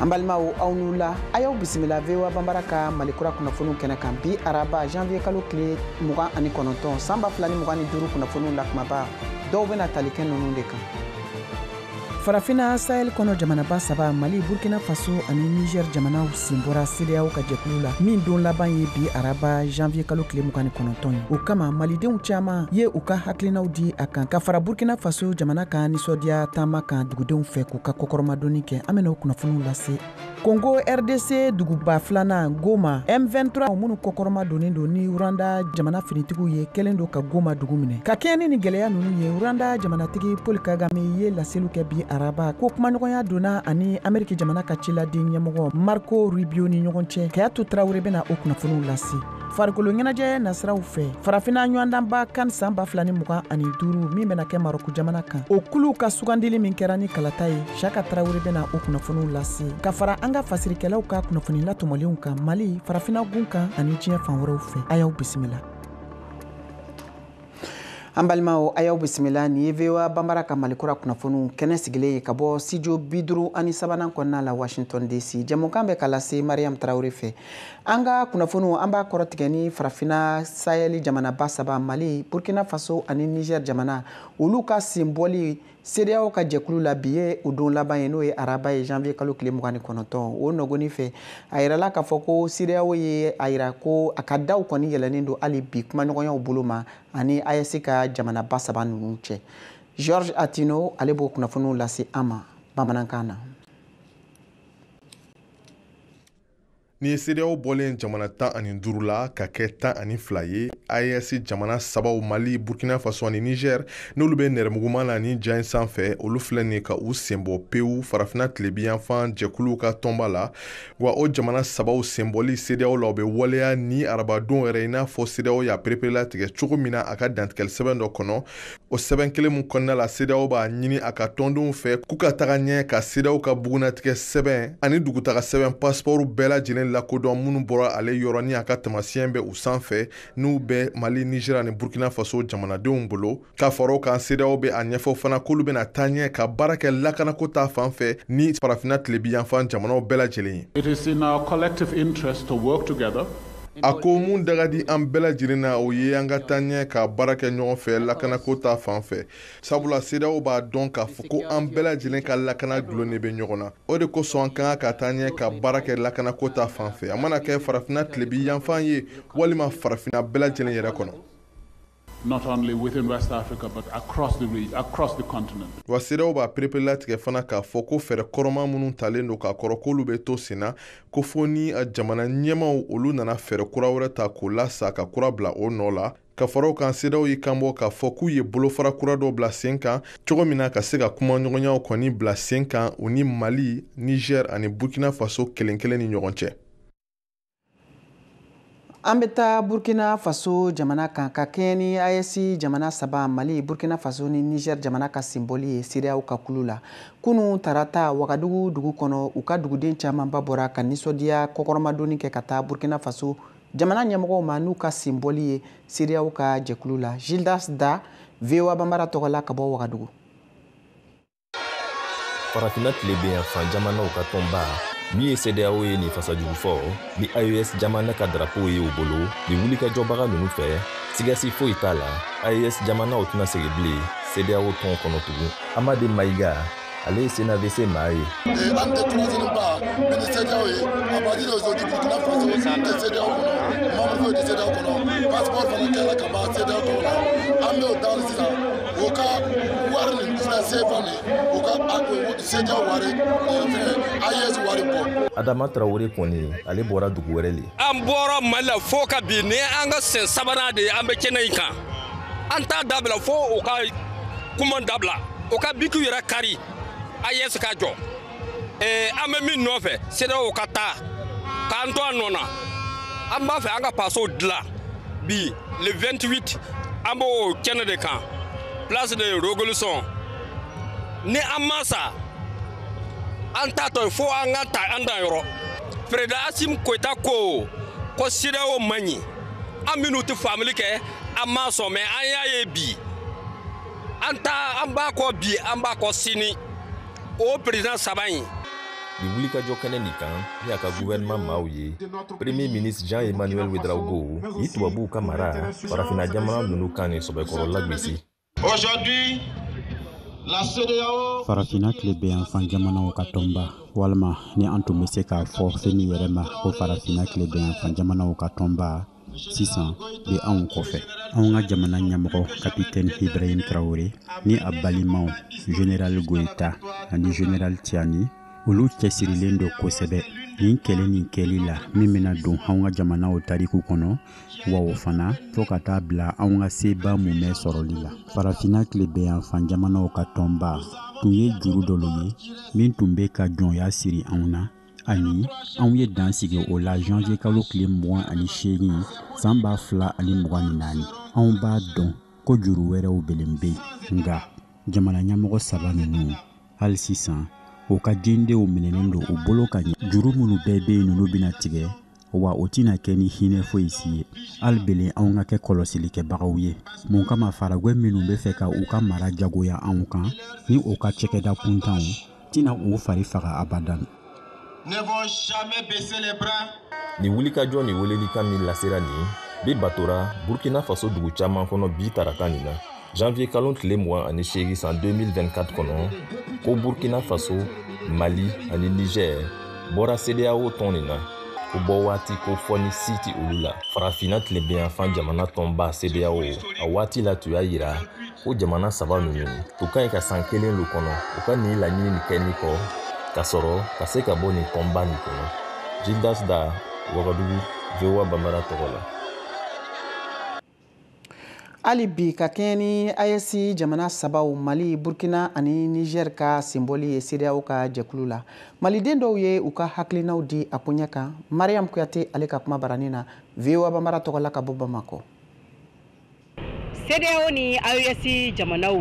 an balimaw aw ni wula a y'aw bisimila voa banbara ka mali kura kunnafoniw kɛnɛ kan bi araba janvier kalo tile mugan ani kɔnɔntɔn san ba fila ni mugan ni duuru kunnafoniw la kumaba dɔw bɛna tali kɛ nunu de kan farafina sahɛl kɔnɔ jamanaba saba mali burkina faso ani niger jamanaw sen bɔra cedeao ka jɛkulu la min don laban ye bi araba janvier kalo tile mugan ni kɔnɔntɔn ye o kama malidenw caaman ye u ka hakilinaw di a kan ka fara burkina faso jamana ka nisɔndiya taama kan dugudenw fɛ k'u ka kɔkɔrɔmadonni kɛ an bɛna o kunnafoniw lase congo rdc duguba filanan goma m23 minnu kɔkɔrɔmadonnen don ni rwanda jamana finitigiw ye kɛlen don ka goma dugu minɛ ka kɛɲɛ ni gɛlɛya ninnu ye rwanda jamanatigi paul kagame ye laseli kɛ bi araba ko kumaɲɔgɔnya donna a ni ameriki jamana ka ciladen ɲɛmɔgɔ marco rubio ni ɲɔgɔn cɛ kadiatou tarawele bɛna o kunnafoniw lase farikolo ɲɛnajɛ nasiraw fɛ farafina ɲɔgɔndanba kan san ba fila ni mugan ani duuru min bɛna kɛ marɔku jamana kan o kuluw ka sugandili min kɛra ni kalata ye siaka tarawele bɛna o kunnafoniw lase ka fara an ka fasirikɛlaw ka kunnafoni latɔmɔlenw kan mali farafina gun kan ani diɲɛ fan wɛrɛw fɛ a y'aw bisimila an balimaw a y'aw bisimila nin ye voa banbara ka mali kura kunnafoniw kɛnɛ sigilen ye ka bɔ studio bi duuru ani sabanan kɔnɔna la washington dc jɛmukan bɛ ka lase mariam tarawele fɛ an ka kunnafoniw an b'a kɔrɔtigɛ ni farafina sahɛli jamanaba saba mali burkina faso ani niger jamana olu ka senbɔli CEDEAO ka jɛkulu la bi ye o don laban ye n'o ye araba ye janvier kalo tile mugan ni kɔnɔntɔn o nɔgɔnni fɛ a yirala k'a fɔ ko CEDEAO ye a yira ko a ka daw kɔni yɛlɛnnen don hali bi kumaɲɔgɔnyaw bolo ma ani AES ka jamanaba saba ninnu cɛ Georges Attino ale b'o kunnafoniw lase an ma bamanankan na. Ni cedeao bɔlen jamana tan ani duuru la ka kɛ tan ani fila ye aes jamana sabaw mali burkina faso ani niger n'olu bɛ nɛrɛmuguman na nin ja in sanfɛ olu filɛ nin ka u senbɔ pewu farafina tilebiyanfan jɛkuluw ka tɔnba la wa o jamana sabaw senbɔli cedeao la o bɛ waleya ni arabadon yɛrɛ i n'a fɔ cedeao y'a pereperela tigɛ cogo min na a ka dantigɛli sɛbɛn dɔ kɔnɔ o sɛbɛn kelen min kɔnɔna la cedeao b'a ɲini a ka tɔndenw fɛ k'u ka taga ɲɛ ka cedeao ka bugunnatigɛ sɛbɛn ani dugutaga sɛbɛn pasipɔriw bɛɛ lajɛlen lakodɔn minnu bɔra ale yɔrɔ ni a ka taamasiyɛn bɛ u sanfɛ n'u bɛ mali nizeri ani burkina faso jamanadenw bolo ka fara o kan cedeao bɛ a ɲɛfɔ fana k'olu bɛna taa ɲɛ ka baara kɛ lakanako ta fan fɛ ni farafinna tilebiyanfan jamanaw bɛɛ lajɛlen ye a ko mun da ka di an bɛɛ lajɛlen na o ye an ka taa ɲɛ ka baara kɛ ɲɔgɔn fɛ lakanako ta fan fɛ sabula cedeao b'a dɔn k'a fɔ ko an bɛɛ lajɛlen ka lakana dulonnen bɛ ɲɔgɔn na o de kosɔn an ka kan ka taa ɲɛ ka baara kɛ lakanako ta fan fɛ a mana kɛ farafina tilebiyanfan ye walima farafina bɛɛ lajɛlen yɛrɛ kɔnɔ not only within West Africa but across the region, across the continent. Wa CEDEAO b'a pereperelatigɛ fana k'a fɔ ko fɛɛrɛ kɔrɔma minnu talen don k'a kɔrɔ k'olu bɛ to sen na ko fo ni a jamana ɲɛmaw olu nana fɛɛrɛ kura wɛrɛ ta k'o lasa ka kura bila o nɔ la ka fara o kan CEDEAO y'i kanbɔ k'a fɔ k'u ye bolofara kura dɔ bila sen kan cogo min na ka se ka kumaɲɔgɔnyaw kɔni bila sen kan u ni mali niger ani burkina faso kelen kelen ni ɲɔgɔn cɛ an bɛ taa burkina faso jamana kan ka kɛɲɛ ni AES jamana saba mali burkina faso ni niger jamana ka senbɔli ye CEDEAO ka kulu la kunu tarata wagadugu dugu kɔnɔ u ka duguden camanba bɔra ka nisɔndiya kɔkɔrɔmadonni kɛ ka taa burkina faso jamana ɲɛmɔgɔw ma n'u ka senbɔli ye CEDEAO ka jɛkulu la gildas da voa banbara tɔgɔ la ka bɔ wagadugu farafinna tilebenyanfan jamanaw ka tɔnba min ye CEDEAO ye nin fasa jugu fɔ ni AES jamana ka darapow ye u bolo nin wulikajɔbaga ninnu fɛ sigasi foyi t'a la AES jamanaw tɛna segin bilen CEDEAO tɔn kɔnɔ tugun Amade Mayiga ale ye CNAVC maa ye. An tɛ kunnafoniba bɛ ni CEDEAO ye à partir d'aujourd'hui Burkina Faso tɛ CEDEAO kɔnɔ membre foyi tɛ CEDEAO kɔnɔ passeport fana kɛra ka ban CEDEAO tɔgɔ la an bɛ o daari sisan o ka wari nin fɛn sefa nin o ka a don CEDEAO wari fɛn AES wari bɔ. adama tarawele kɔni ale bɔra dugu wɛrɛ le. an bɔra mali la fo ka bi ni an ka sen sabanan de ye an bɛ kɛnɛ in kan an t'a dabila fo o ka kuma dabila o ka bikiw yɛrɛ kari AES ka jɔ. ee an bɛ min nɔfɛ CEDEAO ka taa k'an to a nɔ na an b'a fɛ an ka faso dilan bi le 28 an b'o kɛnɛ de kan place de revolution ni an ma sa an t'a to yen fo an ka taa an dan yɔrɔ perezidan asimi goyita ko ko CEDEAO man ɲi an minnu tɛ faamuli kɛ an ma sɔn mais an y'a ye bi an ta an b'a kɔ bi an b'a kɔ sini o perezidan saba in nin wulikajɔ kɛnɛ nin kan ni a ka guvɛrɛnman maaw ye premier ministre jean emmanuel ouédraogo ye tubabuw ka mara farafina jamana nunu kan ni sɔbɛkɔrɔ lagosi farafina tilebenyanfan jamanaw ka tɔnba walima ni an tun bɛ se k'a fɔ fɛn min yɛrɛ ma ko farafina tilebenyanfan jamanaw ka tɔnba sisan bɛ anw kɔfɛ anw ka jamana ɲɛmɔgɔ kapitɛni ibrahim tarawele ni a balimaw general goyita ani general tiani olu cɛsirilen don kosɛbɛ nin kɛlɛ nin kɛli la min bɛna don anw ka jamanaw tariku kɔnɔ wa o fana fo ka taa bila anw ka seba mumɛ sɔrɔli la farafinna tilebenyanfan jamanaw ka tɔnba tun ye juru dɔ ye min tun bɛ ka jɔnya siri anw na ani anw ye dan sigi o la janvier kalo tile mugan ani seegin saan ba fila ani mugan ni naani anw b'a dɔn ko juru wɛrɛw belen be yen nga jamana ɲɛmɔgɔ saba nunu hali sisan u ka dendenw minɛnen don u bolo ka ɲɛ juru minnu bɛɛ be yen nunu bena tigɛ wa o tɛna kɛ ni hinɛ foyi si ye hali belen anw ka kɛ kɔlɔsili kɛbagaw ye mun kama faragwɛ minnu bɛ fɛ ka u ka mara jagoya anw kan ni u ka cɛkɛda kuntanw tɛna u fari faga abadan ni wulikajɔ ni welelikan min lasera nin bi batora burkina faso dugu caman kɔnɔ bi tarata nin na Janvier kalon tile mugan ani seegin san 2024 kɔnɔ ko Burkina Faso, Mali ani Niger bɔra CEDEAO tɔn nin na k'u bɔ waati kofɔni si tɛ olu la. Farafinna tilebiyanfan jamana tɔnba CEDEAO a waati la tun y'a yira ko jamana saba ninnu u ka ɲi ka san kelen lo kɔnɔ u ka nin laɲini nin kɛnin kɔ ka sɔrɔ ka se ka bɔ nin tɔnba nin kɔnɔ. Gildas Da, Wagadugu, VOA Bambara tɔgɔ la. hali bi ka kɛɲɛ ni AES jamana sabaw mali burkina ani niger ka senbɔli ye CEDEAO ka jɛkulu la maliden dɔw ye u ka hakilinaw di a koɲɛ kan mariam kuyate ale ka kuma baranin na voa bambara tɔgɔ la ka bɔ bamakɔ CEDEAO ni AES jamanaw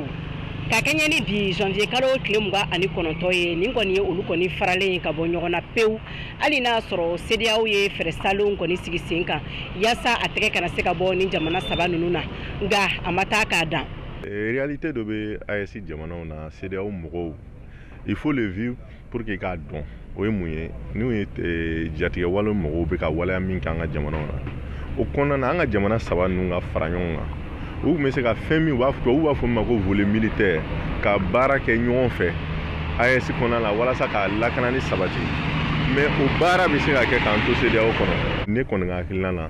ka kɛɲɛ ni bi janvier kalo tile mugan ani kɔnɔntɔn ye nin kɔni ye olu kɔni faralen ka bɔ ɲɔgɔn na pewu hali n'a sɔrɔ CEDEAO ye fɛɛrɛ salenw kɔni sigi sen kan yaasa a tɛgɛ kana se ka bɔ nin jamana saba ninnu na nka a ma taa k'a dan. Eh, réalité dɔ bɛ AES jamanaw na CEDEAO mɔgɔw il faut le vivre pour qu'i k'a dɔn o ye mun ye n'o ye eh, jatigɛwale mɔgɔw bɛ ka waleya min kɛ an ka jamanaw na o kɔnɔna na an ka jamana saba ninnu ka fara ɲɔgɔn kan u tun bɛ se ka fɛn min tubabuw b'a fɔ min ma ko volet militaire ka baara kɛ ɲɔgɔn fɛ AES kɔnɔna la walasa ka lakanani sabati mais o baara bɛ se ka kɛ k'an to CEDEAO kɔnɔ ne kɔni ka hakilina na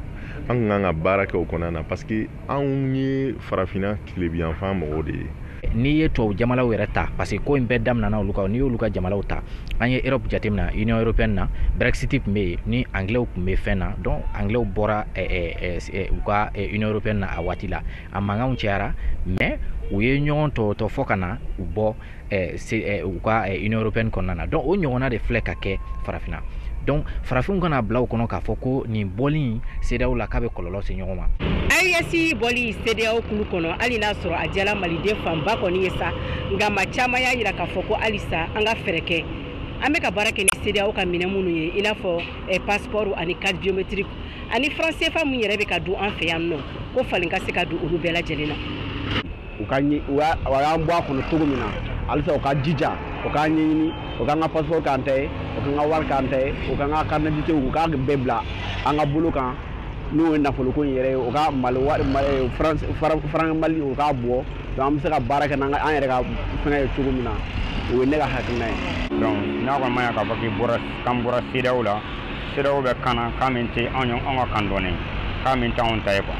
an tun kan ka baara kɛ o kɔnɔna na parce que anw ye farafinna tilebiyanfan mɔgɔw de ye n'i ye tubabu jamanaw yɛrɛ ta parce que ko in bɛɛ daminɛna olu kan n'i y'olu ka jamanaw ta an ye europe jateminɛ union européenne na brexit tun bɛ yen ni anglaisw tun bɛ fɛn na donc anglaisw bɔra eh, eh, eh, u ka union européenne na a waati la a mankanw cayara mais u ye ɲɔgɔn tɔɔtɔ fɔ ka na u bɔ u ka union européenne kɔnɔna na donc o ɲɔgɔnna de filɛ ka kɛ farafinna donc farafinw kan'a bila u kɔnɔ k'a fɔ ko nin bɔli CEDEAO la k'a bɛ kɔlɔlɔ se ɲɔgɔn ma AES bɔli CEDEAO kulu kɔnɔ hali n'a sɔrɔ a diyala maliden fanba kɔni ye sa nka maa caman y'a yira k'a fɔ ko halisa an ka fɛɛrɛ kɛ an bɛ ka baara kɛ ni CEDEAO ka minɛn minnu ye i n'a fɔ eh, passeport ani carte biométrique ani franc cfa min yɛrɛ bɛ ka dun an fɛ yan nɔ ko falen ka se ka don olu bɛɛ lajɛlen na u ka ɲi u y'a u y'an bɔ a kɔnɔ cogo min na halisa u ka jija u k'a ɲɛɲini u k'an ka passeport k'an ta ye u k'an ka wari k'an ta ye u k'an ka carte d'identité u k'a bɛɛ bila an ka bolo kan n'o ye nafoloko in yɛrɛ ye u ka mali wari mali franc franc mali u k'a bɔ donc an bɛ se ka baara kɛ n'an ka an yɛrɛ ka fɛngɛ ye cogo min na o ye ne ka hakilina ye donc n'a kɔni ma ɲa k'a fɔ k'i bɔra k'an bɔra CEDEAO la CEDEAO bɛ kan na kan min tɛ anw ye anw ka kan dɔɔnin kan min t'anw ta ye quoi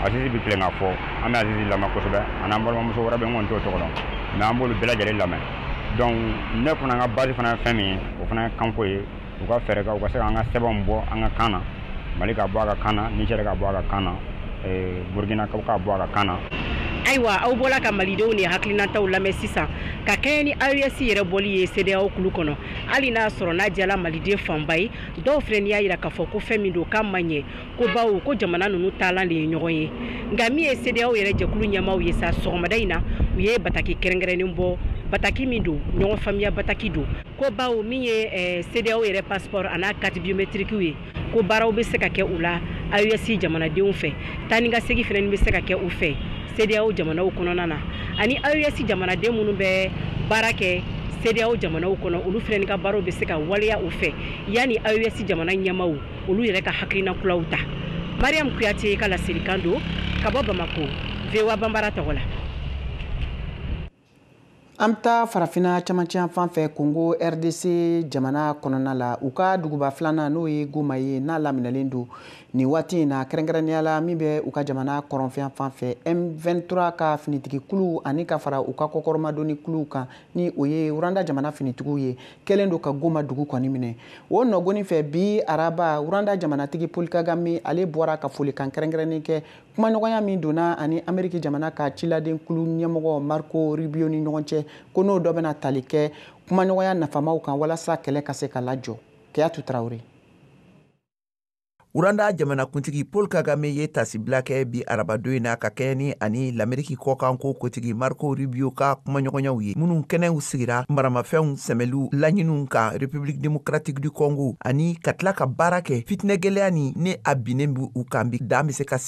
Azizi bɛ tilen k'a fɔ an bɛ Azizi lamɛn kosɛbɛ a n'an balimamuso wɛrɛ bɛ n kɔni t'o tɔgɔ dɔn mais an b'olu bɛɛ lajɛlen lamɛn donc ne fana ka base fana ye fɛn min ye o fana ye kanko ye u ka fɛɛrɛ kɛ u ka se k'an ka sɛbɛnw bɔ an ka kan na Mali ka bɔ a ka kan na Niger ka bɔ a ka kan na eh, Burkina ka bɔ a ka kan na ayiwa aw bɔla ka malidenw ni hakilinataw lamɛn sisan ka kɛɲɛ ni aes yɛrɛ bɔli ye CEDEAO kulu kɔnɔ hali n'a sɔrɔ n'a diyala maliden fanba ye dɔw fɛnɛ y'a jira k'a fɔ ko fɛn min don k'a ma ɲɛ ko bawo ko jamana ninnu taalan de ye ɲɔgɔn ye nka min ye CEDEAO yɛrɛ jɛkulu ɲɛmaaw ye sa sɔgɔmada in na u ye bataki kɛrɛnkɛrɛnnen bɔ bataki min don ɲɔgɔn faamuya bataki don ko bawo min ye eh, CEDEAO yɛrɛ passeport an'a carte biometrikiw ye ko baaraw bɛ se ka kɛ u la aes jamanadenw fɛ taa ni ka segi fɛnɛ bɛ se ka kɛ u fɛ CEDEAO jamanaw kɔnɔna na ani aes jamanaden minnu bɛ baara kɛ CEDEAO jamanaw kɔnɔ olu fɛnɛ ka baaraw bɛ se ka waleya u fɛ yanni aes jamana ɲɛmaaw olu yɛrɛ ka hakilina kuraw ta mariam kuyate ka laselikan don ka bɔ bamako voa bambara tɔgɔ la an bɛ taa farafina camancɛyanfan fɛ kongo rdc jamana kɔnɔna la u ka duguba filanan n'o ye goma ye n'a laminɛlen don nin waati in na kɛrɛnkɛrɛnnenya la min bɛ u ka jamana kɔrɔnfɛyanfan fɛ m23 ka finitigikulu ani ka fara u ka kɔkɔrɔmadonni kuluw kan ni o ye rwanda jamana finitigiw ye kɛlen don ka goma dugu kɔni minɛ o nɔgoni fɛ bi araba rwanda jamanatigi paul kagame ale bɔra ka folikan kɛrɛnkɛrɛnnen kɛ kumaɲɔgɔnya min donna a ni ameriki jamana ka ciladen kulu ɲɛmɔgɔ marco rubio ni ɲɔgɔn cɛ ko n'o dɔ bɛna tali kɛ kumaɲɔgɔnya nafamaw kan walasa kɛlɛ ka se ka lajɔ kadiatou traoré Rwanda jamanakuntigi Paul Kagame ye tasibila kɛ bi arabadon in na ka kɛɲɛ ni a ni Lameriki kɔkanko kuntigi Marco Rubio ka kumaɲɔgɔnyaw ye, minnu kɛnɛw sigira maramafɛnw sɛmɛliw laɲiniw kan République Démocratique du Congo ani ka tila ka baara kɛ fitinɛgɛlɛya nin ni a binnen bɛ u kan bi dan bɛ se ka sigi.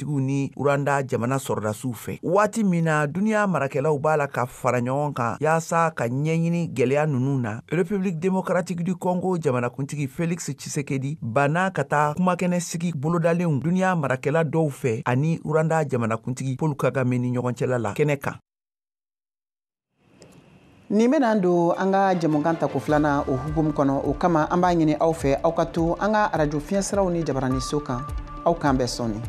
fɛntigiw ni rwanda jamana sɔrɔdasiw fɛ waati min na duniɲa marakɛlaw b'a la ka fara ɲɔgɔn kan yaasa ka ɲɛ ɲini gwɛlɛya nunu na république démocratique du congo jamanakuntigi felix tshisekedi banna ka taa kumakɛnɛ sigi bolodalenw duniɲa marakɛla dɔw fɛ a ni rwanda jamanakuntigi paul kagame ni ɲɔgɔn cɛla la kɛnɛ kan nin bɛna don an ka jɛmukan tako filanan o hukumu kɔnɔ o kama an b'a ɲini aw fɛ aw ka to an ka arajo fiɲɛsiraw ni jabarani so kan aw k'an bɛn sɔɔni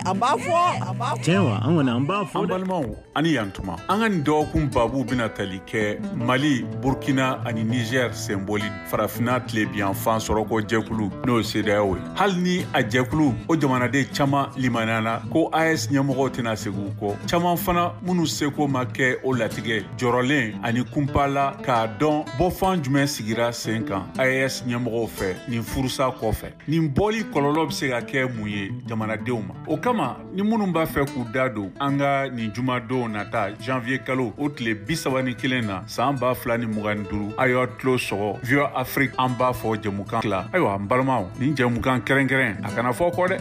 an b'a fɔ tiɲɛ wa an kɔni an b'a fɔ an balimaw ani yan tuma an ka nin dɔgɔkun babu bena tali kɛ mali burkina ani nizɛr senbɔli farafina tilebiyanfan sɔrɔko jɛkulu n'o ye cedeao ye hali ni a jɛkulu o jamanaden caaman limaniyana ko aes ɲɛmɔgɔw tɛna segin kɔ caaman fana minnu seko ma kɛ o latigɛ jɔrɔlen ani kunpa la k'a dɔn bɔfan jumɛn sigira sen kan aes ɲɛmɔgɔw fɛ nin furusa kɔfɛ nin bɔli kɔlɔlɔ be se ka kɛ mun ye jamanadenw ma o kama ni minnu b'a fɛ k'u da don an ka nin jumadon nata janvier kalo o tile bisaba ni kelen na san ba fila ni mugan ni duru a y'a tulo sɔgɔ voa afrik an b'a fɔ jɛmukan tila ayiwa n balimaw nin jɛmukan kɛrɛnkɛrɛn a kana fɔ kɔ dɛ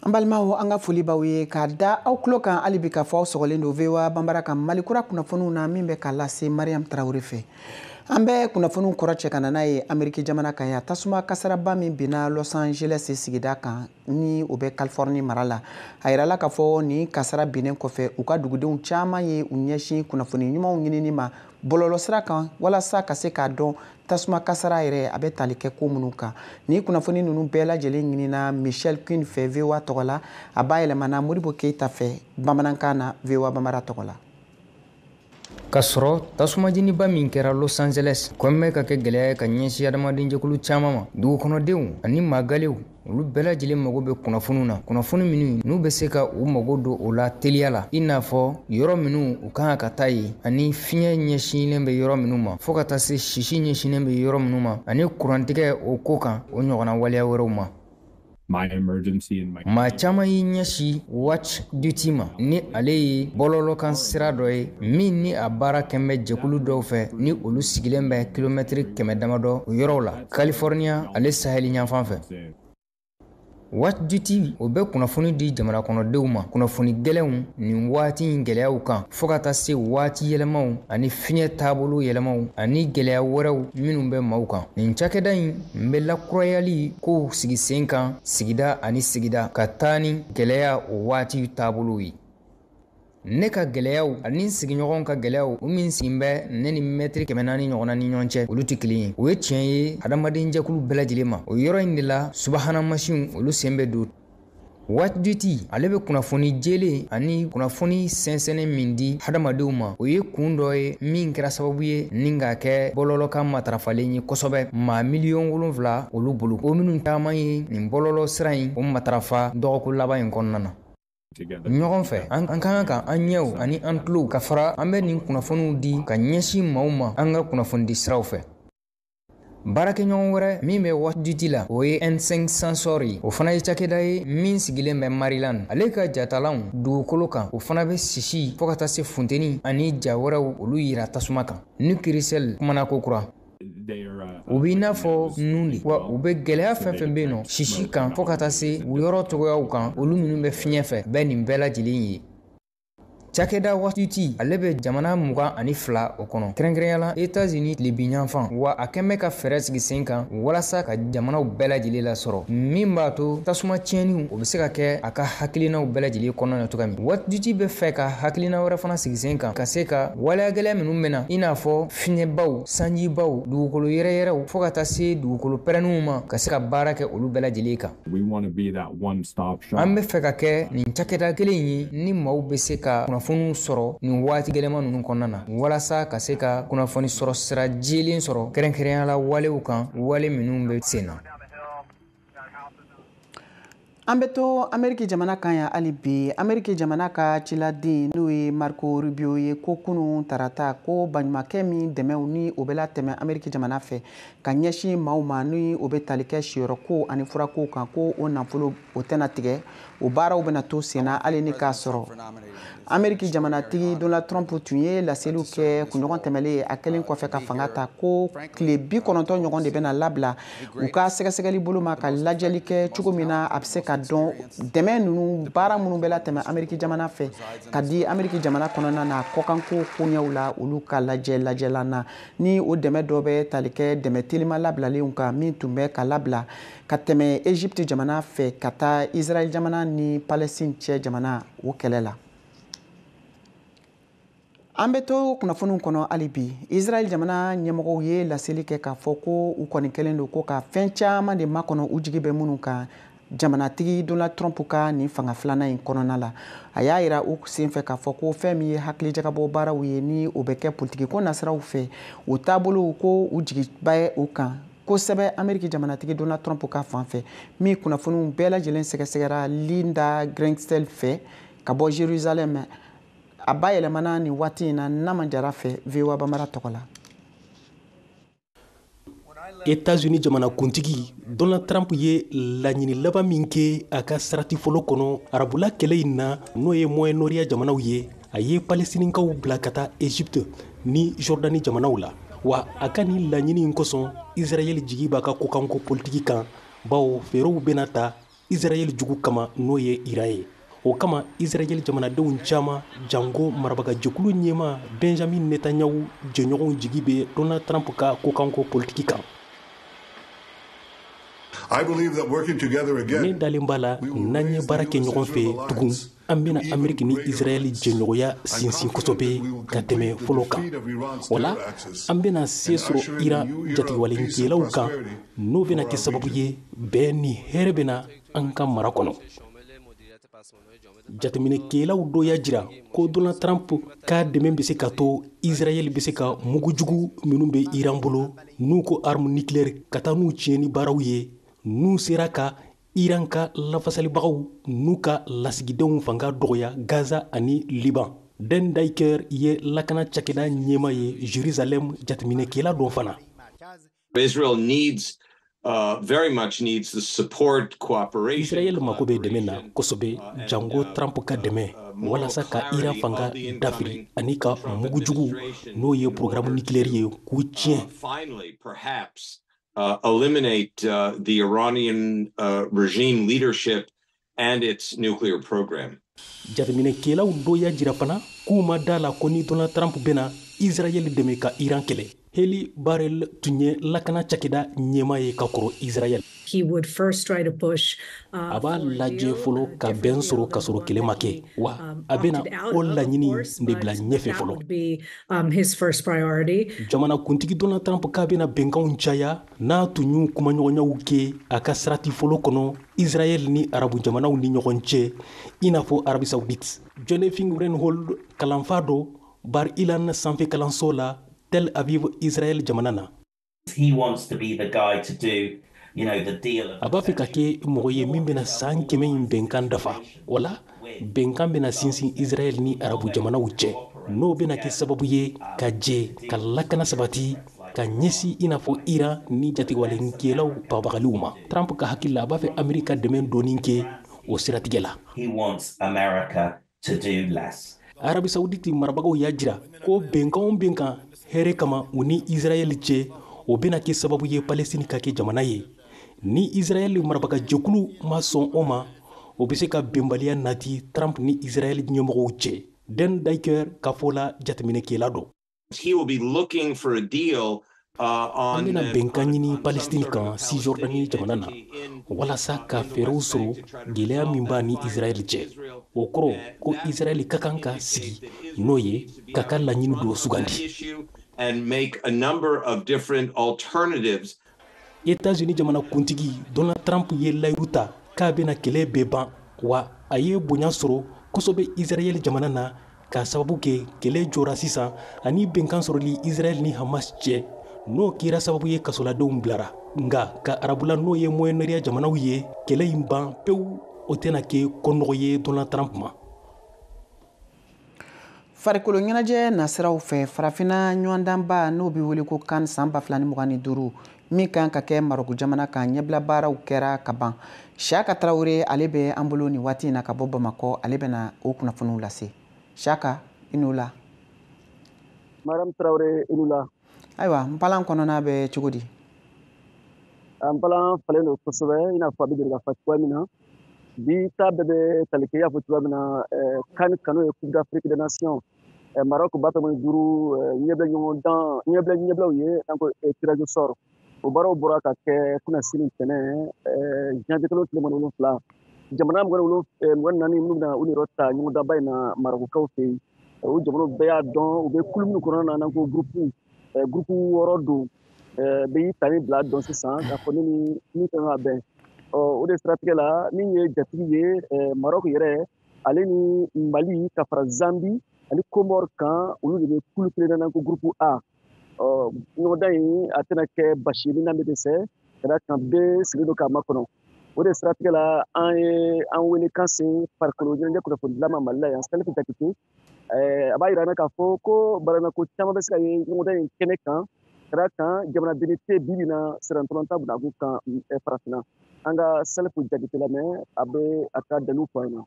an balimaw an ka foli b'aw ye k'a da aw tulo kan hali bi k'a fɔ aw sɔgɔlen don voa banbara ka mali kura kunnafoniw na min bɛ ka lase mariam tarawele fɛ an bɛ kunnafoniw kɔrɔ cɛ ka na n'a ye ameriki jamana kan yan tasuma kasaraba min binna los angeles sigida kan ni o bɛ californie mara la a yirala k'a fɔ nin kasara binnen kɔfɛ u ka dugudenw caman ye u ɲɛsin kunnafoni ɲumanw ɲinini ma bɔlɔlɔsira kan walasa ka se k'a dɔn tasuma kasara yɛrɛ a bɛ tali kɛ ko minnu kan ni kunnafoni ninnu bɛɛ lajɛlen ɲinina michelle quinn fɛ voa tɔgɔ la a bayɛlɛmana modibo keita fɛ bamanankan na voa banbara tɔgɔ la ka sɔrɔ tasumajeniba min kɛra los angeles kɔnɔ bɛ ka kɛ gwɛlɛya ye ka ɲɛsi adamadenjɛkulu caaman ma dugukɔnɔdenw ani magalew olu bɛɛ lajɛlen mago bɛ kunnafoniw na kunnafoni minnu n'u bɛ se ka u mago don o la teliya la i n'a fɔ yɔrɔ minnu u ka kan ka taa yen ani fiɲɛ ɲɛsinnen bɛ yɔrɔ minnu ma fɔɔ ka taa se sisi ɲɛsinnen bɛ yɔrɔ minnu ma ani kurantigɛ o ko kan o ɲɔgɔnna waleya wɛrɛw ma maa caman y'i ɲɛsi watch duty ma ni ale ye bɔlɔlɔkan sira dɔ ye min ni a baara kɛn bɛ jɛkulu dɔw fɛ ni olu sigilen bɛ kilomɛtiri kɛmɛ damadɔ yɔrɔw la california ale saheli ɲanfan fɛ watch duty o bɛ kunnafoni di jamana kɔnɔdenw ma kunnafoni gɛlɛnw nin waati in gɛlɛyaw kan fɔɔ ka taa se waati yɛlɛmaw ani fiɲɛ taabolo yɛlɛmaw ani gɛlɛya wɛrɛw minw bɛ maaw kan nin cakɛda in bɛ lakurayali kow sigi sen kan sigida ani sigida ka taa ni gɛlɛya o waati taabolow ye ne ka gɛlɛyaw ani n sigiɲɔgɔnw ka gɛlɛyaw o min sigin bɛ ne ni mɛtiri kɛmɛ naani ɲɔgɔnna ni ɲɔgɔn cɛ olu tɛ kelen ye o ye tiɲɛ ye hadamaden jɛkulu bɛɛ lajɛlen ma o yɔrɔ in de la subahana mansinw olu sen bɛ don watch duty ale bɛ kunnafoni jelen ani kunnafoni sɛnsɛnnen min di hadamadenw ma o ye kun dɔ ye min kɛra sababu ye ni ka kɛ bɔlɔlɔ ka matarafalen ye kosɛbɛ maa miliyɔn wolonfila olu bolo o minnu caman ye nin bɔlɔlɔ sira in o matarafa dɔgɔkun laban in kɔnɔna na ɲɔgɔn fɛ an ka kan ka an ɲɛw ani an tulow ka fara an bɛ nin kunnafoniw di ka ɲɛsin maaw ma an ka kunnafonidi siraw fɛ baarakɛɲɔgɔn wɛrɛ min bɛ watch duty la o ye n5 sensor ye o fana ye cakɛda ye min sigilen bɛ maryland ale ka jatalanw dugukolo kan o fana bɛ sisi fɔɔ ka taa se funteni ani ja wɛrɛw olu yira tasuma kan nick russell kumana ko kura u b'i n'a fɔ nun de wa u bɛ gɛlɛya fɛn fɛn bɛ yen nɔ sisi kan fɔɔ ka taa se u yɔrɔ cogoyaw kan olu minnu bɛ fiɲɛ fɛ bɛ nin bɛɛ lajɛlen ye cakɛda watch duty ale bɛ jamana mugan ani fila o kɔnɔ kɛrɛnkɛrɛnya la etazini tilebinyanfan wa a kɛn bɛ ka fɛɛrɛ sigi sen kan walasa ka jamanaw bɛɛ lajɛlen lasɔrɔ min b'a to tasuma tiɲɛniw o bɛ se ka kɛ a ka hakilinaw bɛɛ lajɛlen kɔnɔna na cogoya min watch duty bɛ fɛ ka hakilina wɛrɛ fana sigi sen kan ka se ka waleya gɛlɛya minnu bɛ na i n'a fɔ fiɲɛbaw sanjibaw dugukolo yɛrɛyɛrɛw fɔɔ ka taa se dugukolo pɛrɛnniw ma ka se ka baara kɛ olu bɛɛ lajɛlen kan an be fɛ ka kɛ nin cakɛda kelen ye ni maaw be se ka kunnafoniw sɔrɔ nin waati gɛlɛma nunu kɔnɔna na walasa ka se ka kunnafoni sɔrɔ sira jelen sɔrɔ kɛrɛnkɛrɛnya la walew kan wale minnu be sen na an bɛ to ameriki jamana kan yan hali bi ameriki jamana ka ciladen n'o ye marco rubio ye ko kunun tarata ko baɲumankɛ min dɛmɛw ni o bɛ latɛmɛ ameriki jamana fɛ ka ɲɛsin maaw ma ni o bɛ tali kɛ siyɔrɔkow ani furakow kan ko o nafolo o tɛna tigɛ o baaraw bɛna to senna hali ni k'a sɔrɔ ameriki jamanatigi donald trump tun ye laseliw kɛ kunɲɔgɔn tɛmɛlen ye a kɛlen kɔfɛ ka fanga ta ko tile bi kɔnɔntɔn ɲɔgɔn de bɛna labila u ka sɛgɛsɛgɛli bolo ma ka lajɛli kɛ cogo min na a bɛ se ka dɔn dɛmɛ ninnu baara minnu bɛ latɛmɛ ameriki jamana fɛ ka di ameriki jamana kɔnɔna na kɔkanko koɲɛw la olu ka lajɛ lajɛlan na ni o dɛmɛ dɔ bɛ tali kɛ dɛmɛ telima labilalenw kan min tun bɛ ka labila ka tɛmɛ Egypte jamana fɛ ka taa Israël jamana ni Palestine cɛ jamana o kɛlɛ la. An bɛ to kunnafoniw kɔnɔ hali bi Israël jamana ɲɛmɔgɔw ye laseli kɛ k'a fɔ ko u kɔni kɛlen don ko ka fɛn caman de makɔnɔ u jigi bɛ minnu kan jamanatigi Donald Trump ka nin fanga filanan in kɔnɔna la a y'a yira o senfɛ k'a fɔ ko fɛn min ye hakilijagabɔ baaraw ye ni o bɛ kɛ politikiko nasiraw fɛ o taabolow ko u jigiba ye o kan kosɛbɛ ameriki jamanatigi donald trump ka fan fɛ min kunnafoniw bɛɛ lajɛlen sɛgɛsɛgɛra linda gradstein fɛ ka bɔ jerusalem a bayɛlɛmana nin waati in na nama jara fɛ voa bambara tɔgɔ la États-Unis jamanakuntigi Donald Trump ye laɲini laban min kɛ a ka sarati fɔlɔ kɔnɔ arabula kɛlɛ in na n'o ye Moyen-Orient jamanaw ye a ye palestinikaw bila ka taa egypte ni jordani jamanaw la wa a ka nin laɲini in kosɔn israɛl jigi b'a ka kokanko politiki kan bawo fɛɛrɛw bɛna ta israɛl jugu kama n'o ye iran ye o kama israɛl jamanadenw caaman janko marabagajɛkulu ɲɛma benjamin netanyahu jɛɲɔgɔnw jigi bɛ donald trump ka kokanko politiki kan ne dalen b'a la n'an ye baara kɛ ɲɔgɔn fɛ tugun an bɛna ameriki ni israɛli jɛɲɔgɔnya sinsin kosɛbɛ ka tɛmɛ fɔlɔ kan wala an bɛna se sɔrɔ iran jatigɛwalekɛlaw kan n'o bɛna kɛ sababu ye bɛn ni hɛrɛ bɛ na an ka mara kɔnɔ jateminɛkɛlaw dɔ y'a jira ko donald trump ka dɛmɛ bɛ se ka to israɛl bɛ se ka mugu jugu minnu bɛ iran bolo n'u ko arme nucléaire ka taa n'u tiɲɛni baaraw ye n'u sera ka Iran ka lafasalibagaw n'u ka lasigidenw fanga dɔgɔya Gaza ani Liban. Dan Diker ye lakana cakɛda ɲɛma ye Jerusalem jateminɛkɛla don fana. Israel needs Uh, very much needs the support cooperation. Israel mako bɛ dɛmɛ na kosɛbɛ uh, janko uh, Trump ka dɛmɛ walasa ka Iran fanga dafiri ani ka mugu jugu n'o ye programme nucléaire ye k'u tiɲɛ. uh, eliminate uh, the Iranian uh, regime leadership and its nuclear program. jateminɛkɛlaw dɔ y'a jira fana k'u ma d'a la ko ni donald trump bɛna israɛl dɛmɛ ka iran kɛlɛ helit barel tun ye lakana cakɛda ɲɛma ye ka kɔrɔ israɛl he would first try to push uh, a b'a lajɛ fɔlɔ uh, ka bɛn sɔrɔ ka sɔrɔ kɛlɛ ma kɛ wa um, a bɛna o laɲini de bila ɲɛfɛ fɔlɔ Um, his first priority. Jamana kuntigi Donald Trump k'a bɛna bɛnkanw caya n'a tun y'u kumaɲɔgɔnyaw kɛ a ka sarati fɔlɔ kɔnɔ Israɛl ni arabu jamanaw ni ɲɔgɔn cɛ i n'a fɔ Arabie Saoudite. Jonathan Rynhold kalanfa don Bar Ilan sanfɛ kalanso la Tel Aviv Israɛl jamana na. he wants to be the guy to do you know the deal a b'a fɛ ka kɛ mɔgɔ ye min bɛna san kɛmɛ in bɛnkan dafa wala bɛnkan bɛna sinsin israɛl ni arabu jamanaw cɛ n'o bɛna kɛ sababu ye ka jɛ ka lakana sabati ka ɲɛsin i n'a fɔ iran ni jatigɛwalenkɛlaw bagabagaliw ma trump ka hakili la a b'a fɛ ameriki ka dɛmɛ dɔɔni kɛ o siratigɛ la arabi sawuditi marabagaw y'a jira ko bɛnkan o bɛnkan hɛrɛ kama u ni israɛl cɛ o bɛna kɛ sababu ye palestini ka kɛ jamana ye ni israɛl marabaga jɛkulu ma sɔn o ma o bɛ se ka bɛnbaliya nati trump ni israɛl ɲɛmɔgɔw cɛ dan diker ka fɔ la jateminɛkɛla dɔ He will be looking for a deal uh, an bɛna bɛnkan ɲini palestini kan sijordani jamana na walasa ka fɛɛrɛw sɔrɔ gɛlɛya min b'a ni israɛl cɛ o kɔrɔ ko israɛl ka kan ka sigi n'o ye ka ka laɲini dɔ sugandi Etats-Unis jamana kuntigi Donald Trump ye layiru ta k'a bɛna kɛlɛ bɛɛ ban wa a ye bonya sɔrɔ kosɛbɛ Israɛl jamana na k'a sababu kɛ kɛlɛ jɔra sisan ani bɛnkan sɔrɔli Israɛl ni Hamas cɛ n'o kɛra sababu ye kasoladenw bilara nka ka arabula n'o ye Moyen-Orient jamanaw ye kɛlɛ in ban pewu o tɛna kɛ ko nɔgɔ ye Donald Trump ma. farikolo ɲɛnajɛ nasiraw fɛ farafinna ɲɔgɔndanba n'o bɛ wele ko kan san 2025 min kan ka kɛ marɔku jamana kan ɲɛbila baaraw kɛra ka ban siyaka tarawele ale bɛ an bolo nin waati in na ka bɔ bamakɔ ale bɛna o kunnafoniw lase siyaka i ni wula madame tarawele i ni wula ayiwa npalan kɔnɔna bɛ cogo di npalan falen don kosɛbɛ i n'a fɔ a bɛ deli ka fa cogoya min na bi ta bɛɛ bɛ tali kɛ i y'a fɔ cogoya min na kan kan n'o ye coupe d'afrique des nations maroc ba fila mugan ni duuru ɲɛbila ɲɔgɔndan ɲɛbila ɲɛbilaw ye n'an ko tirage au sort o baaraw bɔra ka kɛ kunnasini ntɛnɛn janvier kalo tile mugan ni wolonfila jamana mugan ni naani minnu bɛna u yɛrɛ ta ɲɔgɔndanba in na marɔkukaw fɛ yen o jamanaw bɛɛ y'a dɔn u bɛ kulu minnu kɔnɔna na n'an ko gurupu gurupu wɔɔrɔ don bɛɛ y'i ta ni bila dɔn sisan k'a fɔ ne ni min kan ka bɛn o de siratigɛ la min ye jatigi ye marɔku yɛrɛ ale ni mali ka fara zambi ani komɔri kan olu de bɛ kulu kelen na n'an ko gurupu a ɲɔgɔndan in a tɛna kɛ basi ye min na bɛ dɛsɛ ka d'a kan bɛɛ sigilen don k'a makɔnɔ o de siratigɛ la an ye an welekan se farikolo ɲɛnajɛ kunnafoni dila ma mali la yan salifu jakite a b'a jira k'a fɔ ko balanako caman bɛ se ka ye ɲɔgɔndan in kɛnɛ kan ka d'a kan jamanadennin tɛ bi bi in na sennantolatan binaku kan farafinna an ka salifu jakite lamɛn a bɛ a ka dalilu fɔ an na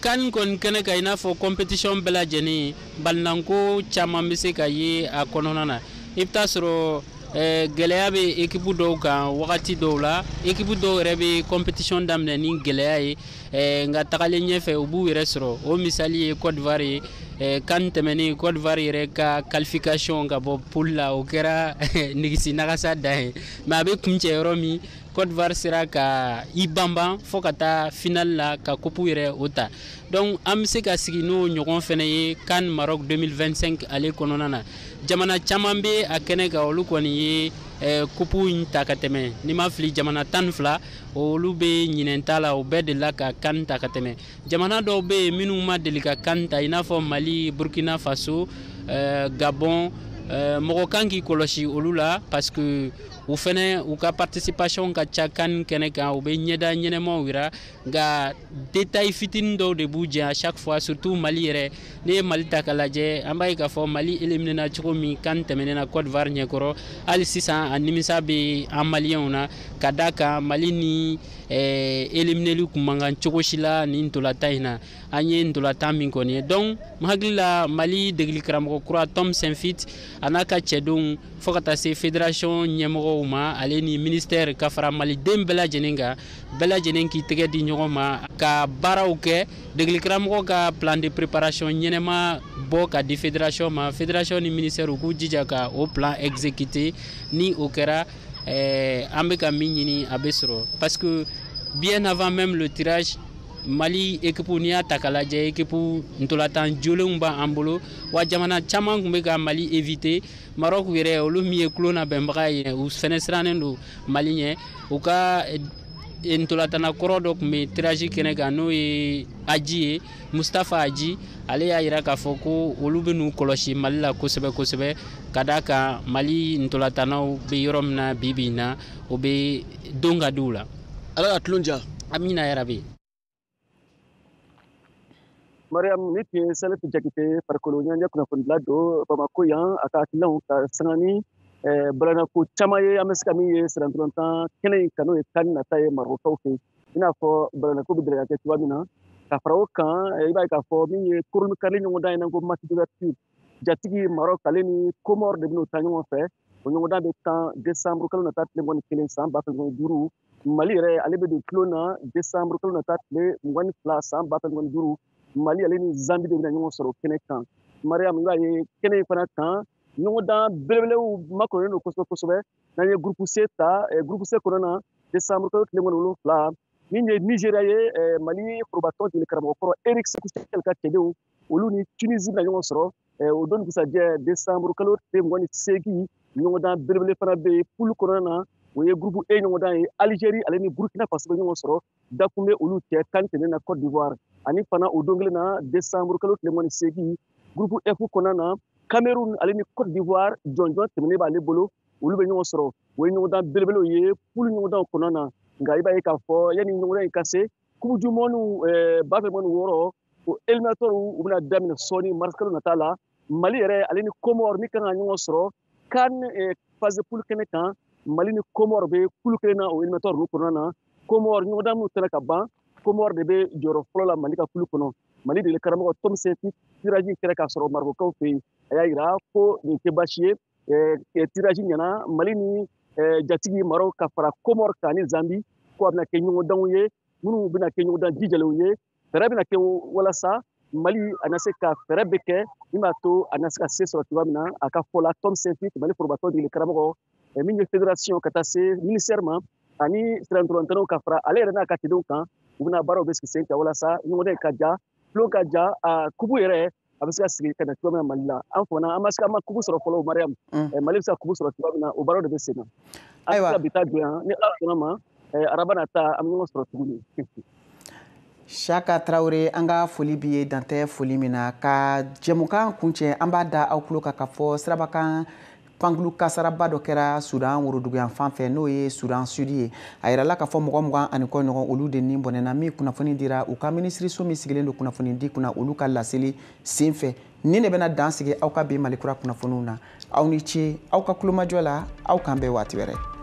kan kɔni kɛnɛ kan i n'a fɔ kɔnpetisiɔn bɛɛ lajɛlen balinanko caman bɛ se ka ye a kɔnɔna na i bɛ taa sɔrɔ Eh, gɛlɛya bɛ ekipu dɔw kan wagati dɔw la ekipu dɔw yɛrɛ bɛ kɔnpetisiɔn daminɛ ni gɛlɛya ye Eh, nka tagalen ɲɛfɛ u b'u yɛrɛ sɔrɔ o misali ye côte d'ivoire ye eh, CAN tɛmɛnen côte d'ivoire yɛrɛ ka qualification ka bɔ poule la o kɛra eh, nigisi nagasa dan ye mais a bɛ kuncɛ yɔrɔ min côte d'ivoire sera ka i banban fɔɔ ka taa final la ka coupe yɛrɛ o ta donc an bɛ se ka sigi n'o ɲɔgɔn fɛnɛ ye CAN maroc 2025 ale kɔnɔna na jamana caman bɛ a kɛnɛ kan olu kɔni ye coupe in ta ka tɛmɛ ni n ma fili jamana tan ni fila olu bɛ ɲinɛn ta la o bɛɛ delila ka CAN ta ka tɛmɛ jamana dɔw bɛ yen minnu ma deli ka CAN ta i n'a fɔ mali burkina faso eh, gabon eh, mɔgɔ kan k'i kɔlɔsi olu la parce que u fɛnɛ u ka participation ka ca CAN kɛnɛ kan u bɛ ɲɛda ɲɛnɛmaw yira nka détail fitinin dɔw de b'u jɛ à chaque fois surtout mali yɛrɛ n'i ye mali ta k'a lajɛ an b'a ye k'a fɔ mali éliminena cogo min CAN tɛmɛnen na côte d'ivoire ɲɛkɔrɔ hali sisan a nimisa bɛ an maliyɛnw na ka d'a kan mali ni eh, élimineli kun man kan cogo si la nin ntolatan in na an ye ntolatan min kɔni ye donc n hakili la mali degeli karamɔgɔ kura tom saintfiet a n'a ka cɛdenw fɔɔ ka taa se federasiyɔn ɲɛmɔgɔw ma ale ni minisitɛri ka fara maliden bɛɛ lajɛlen kan bɛɛ lajɛlen k'i tɛgɛ di ɲɔgɔn ma ka baaraw kɛ degelikaramɔgɔ ka plan de préparation ɲɛnɛma bɔ ka di federasiyɔn ma federasiyɔn ni minisitɛri u k'u jija ka o plan exécuter ni o kɛra eh, an bɛ ka min ɲini a bɛ sɔrɔ parce que bien avant même le tirage mali ekipu n'i y'a ta k'a lajɛ ekipu ntolatan jolenw b'an bolo wa jamana caman tun bɛ ka mali éviter Maroc yɛrɛ olu min ye tulon labɛnbaga ye u fɛnɛ sirannen don Mali ɲɛ u ka eh, ntolatana kɔrɔ dɔ tun bɛ tirage kɛnɛ kan n'o ye Hadji ye Mustapha Hadji ale y'a jira k'a fɔ ko olu bɛn'u kɔlɔsi Mali la kosɛbɛ kosɛbɛ ka d'a kan Mali ntolatanaw bɛ yɔrɔ min na bi bi in na o bɛɛ dɔn ka di u la. Ala ka tulon diya. Amina yarabi. mariam nin tun ye salif jakite farikolo ɲɛnajɛ kunnafonidila don bamako yan a ka hakilinaw ka sanga ni balanako caman ye an bɛ se ka min ye sennantolatan kɛnɛ in kan n'o ye CAN nata ye marɔkaw fɛ i n'a fɔ balanako bɛ deli ka kɛ cogoya min na ka fara o kan i b'a ye k'a fɔ min ye kurunbonkari ɲɔgɔndan ye n'a ko match d'ouverture jatigi maroc ale ni komɔri de bɛn'o tan ɲɔgɔn fɛ o ɲɔgɔndan bɛ tan desanburu kalo nata tile mugan ni kelen san ba fila mugan ni duuru mali yɛrɛ ale bɛ don tulon na desanburu kalo nata tile mugan ni fila san ba fila mugan ni duuru mali ale ni zambi de bɛna ɲɔgɔn sɔrɔ kɛnɛ kan mariyamu i b'a ye kɛnɛ in fana kan ɲɔgɔndan belebelew makɔnɔnen don kosɛbɛ kosɛbɛ n'an ye groupe C ta groupe C kɔnɔna na desanburu kalo tile mugan ni wolonwula min ye nizeriya ye mali forobatɔn degeli karamɔgɔ kɔrɔ éric sékou chelle ka cɛdenw olu ni tunisi bɛna ɲɔgɔn sɔrɔ o don dugusajɛ desanburu kalo tile mugan ni seegin ɲɔgɔndan belebele fana bɛ yen pulu kɔnɔna na o ye gurupu e ɲɔgɔndan ye alizeri ale ni burukina faso bɛ ɲɔgɔn sɔrɔ dakun bɛ olu cɛ kan tɛmɛnen na cote d'ivoire ani fana o don kelen na desanburu kalo tile mugan ni seegin gurupu f kɔnɔna na cameroun ale ni cote d'ivoire jɔnjɔn tɛmɛnen b'ale bolo olu bɛ ɲɔgɔn sɔrɔ o ye ɲɔgɔndan belebelew ye pulu ɲɔgɔndanw kɔnɔna na nka i b'a ye k'a fɔ yanni ɲɔgɔndan in ka se coupe du monde eh, ba fila mugan ni wɔɔrɔ o eliminatɔriw u bɛna daminɛ sɔɔni marisikalo nata la mali yɛrɛ ale ni komɔr min kan ka ɲɔgɔn sɔrɔ kan eh, phase poule kɛnɛ kan mali ni komɔr bɛ kulu kelen na o eliminatɔri ninnu kɔnɔna na komɔr ɲɔgɔndan minnu tɛmɛna ka ban komɔr de bɛ jɔyɔrɔ fɔlɔ la mali ka kulu kɔnɔ mali degeli karamɔgɔ tom saintfiet tiraji kɛra k'a sɔrɔ marɔkukaw fɛ yen a y'a jira ko nin tɛ baasi ye tiraji ɲɛna mali ni jatigi marɔku ka fara komɔr kan ni zambi ko a bɛna kɛ ɲɔgɔndanw ye minnu bɛna kɛ ɲɔgɔndan jijalenw ye fɛɛrɛ bɛna kɛ walasa mali a na se ka fɛɛrɛ bɛɛ kɛ min b'a to a na se ka se sɔrɔ cogoya min na a ka fɔ la tom saintfiet mali forobatɔn degeli karamɔgɔ min ye federasiyɔn ka taa se minisɛri ma ani sirantolantɛnɛw ka fara ale yɛrɛ n'a ka cɛdenw kan u bɛna baaraw bɛɛ sigi sen kan walasa ɲɔgɔndan ka diya tulon ka diya a kupu yɛrɛ a bɛ se ka sigi ka na cogo min na mali la an fana an ma se an ma kupu sɔrɔ fɔlɔ mariyamu mali bɛ se ka kupu sɔrɔ cogo min na o baara de bɛ sen na ayiwa bi ta dan yan ni ala sɔnn'a ma araba nata an bɛ ɲɔgɔn sɔrɔ tuguni Saka Traore an ka foli b'i ye dan tɛ foli min na ka jɛmukan kuncɛ an b'a da aw tulo kan k'a fɔ sirabakan pankurun kasaraba dɔ kɛra sudan woroduguyan fan fɛ n'o ye sudan sudi ye a yirala k'a fɔ mɔgɔ mugan ani kɔ ɲɔgɔn olu de ni bɔnɛna nin kunnafoni dira u ka minisiriso min sigilen don kunnafoni di kunna olu ka laseli sen fɛ nin de bɛna dan sigi aw ka bi malikura kunnafoniw na aw ni ce aw ka tulomajɔ la aw k'an bɛn waati wɛrɛ